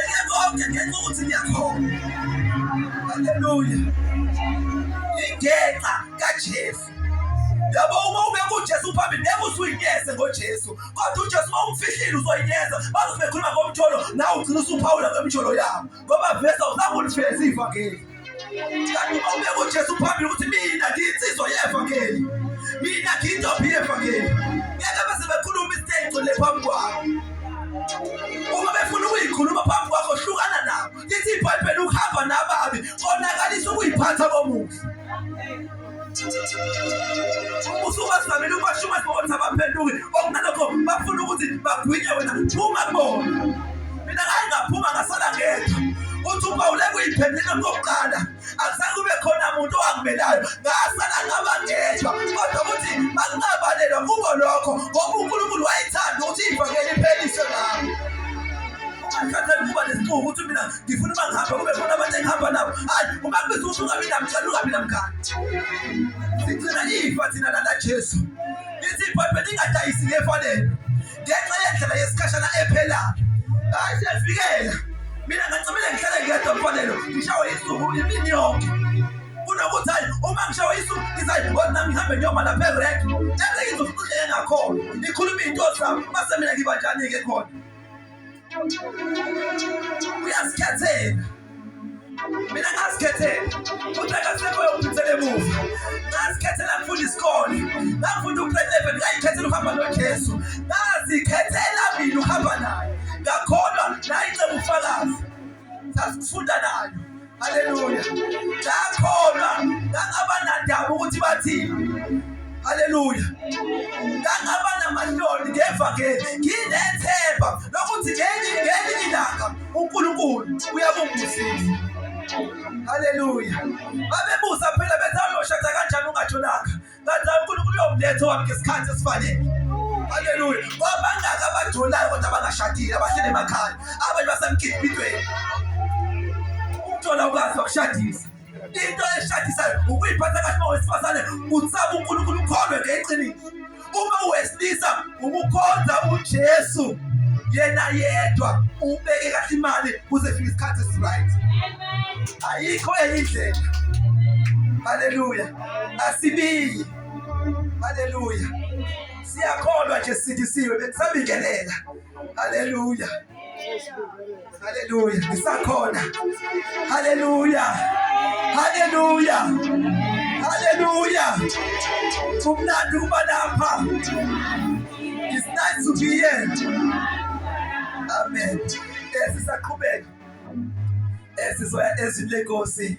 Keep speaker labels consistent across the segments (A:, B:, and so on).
A: konke ngenxa ukuthi ngiyakhona haleluya ingenxa kajesu yabo uma ubeka ujesu phambili ngeke usuyinyeze ngojesu kodwa ujesu uma umfihlile uzoyinyeza bazobe bekhuluma ngomjolo nawe ugcina usuphawula ngemjolo yabo ngoba vesa uzange ulifeze ivangeli Kanti ubeka uJesu phambili ukuthi mina ngiyinsizwa yevangeli. Mina ngiyintombi yevangeli. Ngeke bese bekhuluma isiteco le phambi kwakho. Uma befuna ukuyikhuluma phambi kwakho hlukana nabo. Lithi iBhayibheli ukuhamba nababi konakalisa ukuyiphatha komuhle. umbuso ubasamile ubasho uma sibona abaphenduki okunalokho bafuna ukuthi bagwinye wena phuma kubona mina ngaye ngaphuma ngasala ngedwa uthi upawule kuyiphendela kokuqala akuzange kube khona muntu owangimelayo ngasala ngaba ngedwa kodwa ukuthi makungabalelwa kubo lokho ngoba unkulunkulu wayethanda ukuthi ivangeli ipheliswe ngabo angikhathali kuba nesixuku ukuthi mina ngifuna uba ngihamba kube khona abantu engihamba nabo hayi uma kubiza ukuthi ungabi namtshana ungabi namngane sigcina ifa thina lana jesu lithi ibhayibheli lingadayisi ngefanele ngenxa yendlela yesikhashana ephelayo hayi siyavikela mina ngancamile ngihlale ngedwa mfanelo ngishawe isuku imini yonke kunokuthi hayi uma ngishawe isuku ngizayi kodwa nami ngihambe ngiyoma lapha erek eze ngizofuna uhleke ngakhona ngikhuluma iy'nto zami base mina ngiba njani-ke khona uyazikhethela mina ngazikhethela futhi akasekho yophithela emuva ngazikhethela ngifunda isikole ngafunda ugrade eleven ngayikhethela ukuhamba nojesu ngazikhethela mina ukuhamba naye ngakholwa nayinceba ufakazi sasikufunda nayo haleluya ngakholwa ngangabanandaba ukuthi bathini haleluya ngangaba namahloni ngeva ke nginethemba lokuthi ngenye ngenye ilanga unkulunkulu uyakungusisa haleluya babebuza phela bethi aloshatha kanjani ungatholanga kanti uNkulunkulu uyomletha wami ngesikhathi esifanele haleluya wabangaka abajolayo kodwa abangashadile abahlele emakhaya abanye basemgidibidweni ukuthola ukwazi wakushadisa into eshadisayo ukuyiphatha kahle uma wesifazane utsaba unkulunkulu ukholwe ngeqiniso uma wesilisa ukukhonza ujesu yena yedwa ubeke kahle imali kuze fika isikhathi esiright ayikho enye indlela haleluya asibiyi. Haleluya, siyakholwa nje sidisiwe, bekusabingelela. Haleluya, haleluya, ngisakhona. Haleluya, haleluya, haleluya. Kumnandi ukuba lapha. It's nice to be here. Amen. Esisaqhubeka esizoya ezwini lenkosi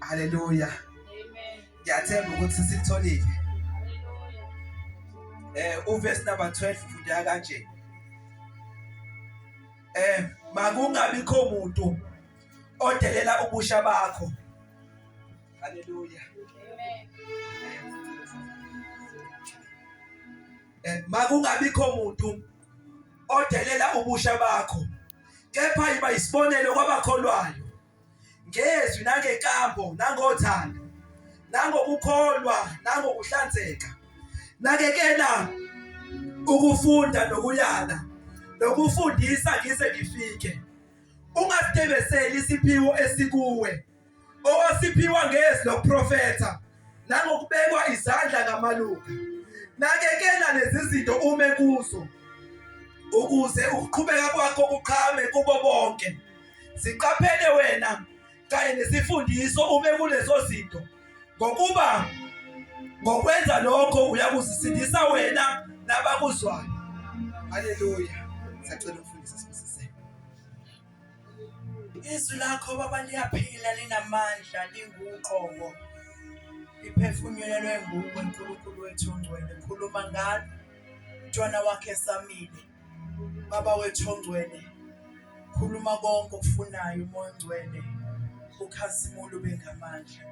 A: Haleluya. Ngiyathemba ukuthi sikutholile. Eh uverse number 12 ufunda kanje. Eh makungabikho umuntu odelela ubusha bakho. Hallelujah. Amen. And makungabikho muntu odelela ubusha bakho kepha yiba isibonelo kwabakholwayo ngezwi nangenkambo nangothando nangokukholwa nangokuhlanzeka nakekela ukufunda nokuyala nokufundisa ngize ngifike ungasitebeseli isiphiwo esikuwe owasiphiwa ngezi lokuprofetha nangokubekwa izandla kamaluka nakekela lezi zinto ume kuzo ukuze ukuqhubeka kwakho kuqhame kubo bonke siqaphele wena kanye nesifundiso ume kulezo zinto ngokuba ngokwenza lokho uyakuzisindisa wena nabakuzwayo haleluya sacela umfundisi Izwi lakho baba liyaphila linamandla linguqobo liphefumulelwe nguwe Nkulunkulu wethu ongcwele khuluma ngalo mntwana wakhe esamile baba wethu ongcwele khuluma
B: konke okufunayo umoya ongcwele ukhazimule ube ngamandla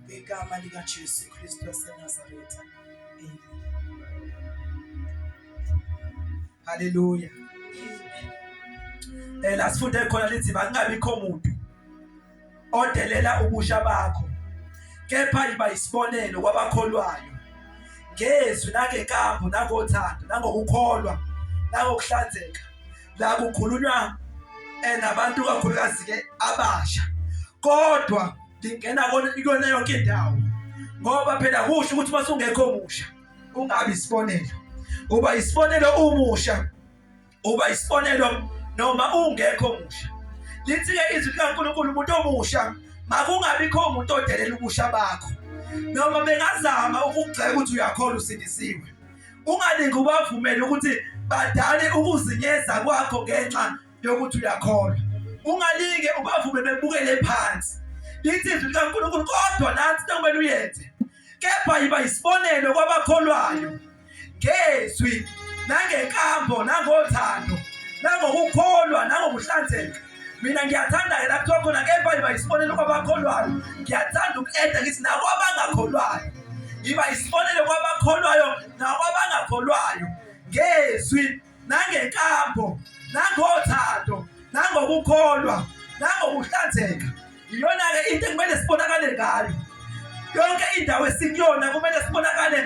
B: ngegama likaJesu Kristu waseNazaretha amen haleluya um
A: eh, la sifunde khona lithi makungabikho muntu odelela ubusha bakho kepha yiba yisibonelo kwabakholwayo ngezwi nangenkambo nangothando nangokukholwa nangokuhlanzeka la kukhulunywa um nabantu kakhulukazi-ke abasha kodwa lingena kuyona yonke indawo ngoba phela kusho ukuthi uma sungekho musha ungabi isibonelo uba isibonelo umusha uba isibonelo noma ungekho musha lithi-ke izwi likankulunkulu umuntu omusha makungabikho umuntu odelela ubusha bakho noma bengazama ukugxeka ukuthi uyakhola usindisiwe ungalingi ubavumele ukuthi badale ukuzinyeza kwakho ngenxa yokuthi uyakholwa ungalinge ubavume bebukele phansi lithi izwi likankulunkulu kodwa nansi into kumele uyenze kepha yiba yisibonelo kwabakholwayo ngezwi nangenkambo nangothando nangokukholwa nangokuhlanzeka mina ngiyathanda-ke la kuthiwa khona kepha yiba yisibonelo kwabakholwayo ngiyathanda uku-eda ngithi nakwabangakholwayo yiba yisibonelo kwabakholwayo nakwabangakholwayo ngezwi nangenkambo nangothando nangokukholwa nangokuhlanzeka iyona-ke into ekumele sibonakale ngayo yonke indawo esikuyona kumele sibonakale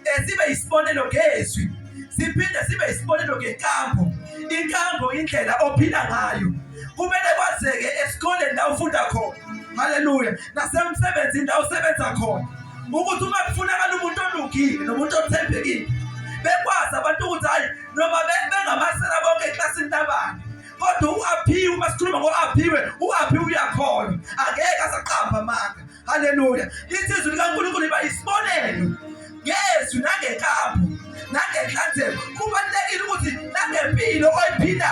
A: eh, sibe yisibonelo ngezwi siphinde sibe yisibonelo ngenkambo inkambo indlela ophila ngayo kumele kwazeke esikoleni la ufunda khona haleluya nasemsebenzini la usebenza khona ukuthi uma kufunakala umuntu olungile nomuntu othembekile bekwazi abantu ukuthi hhayi noma bengamasela bonke eklasini labani kodwa u-aphiwe uma sikhuluma ngo-aphiwe u-aphiwe uyakholwa angeke asaqamba amanga haleluya lithi izwi likankulunkulu iba yisibonelo ngezwi nangenkambo nangenhlanzeko kubalulekile ukuthi nangempilo oyiphilayo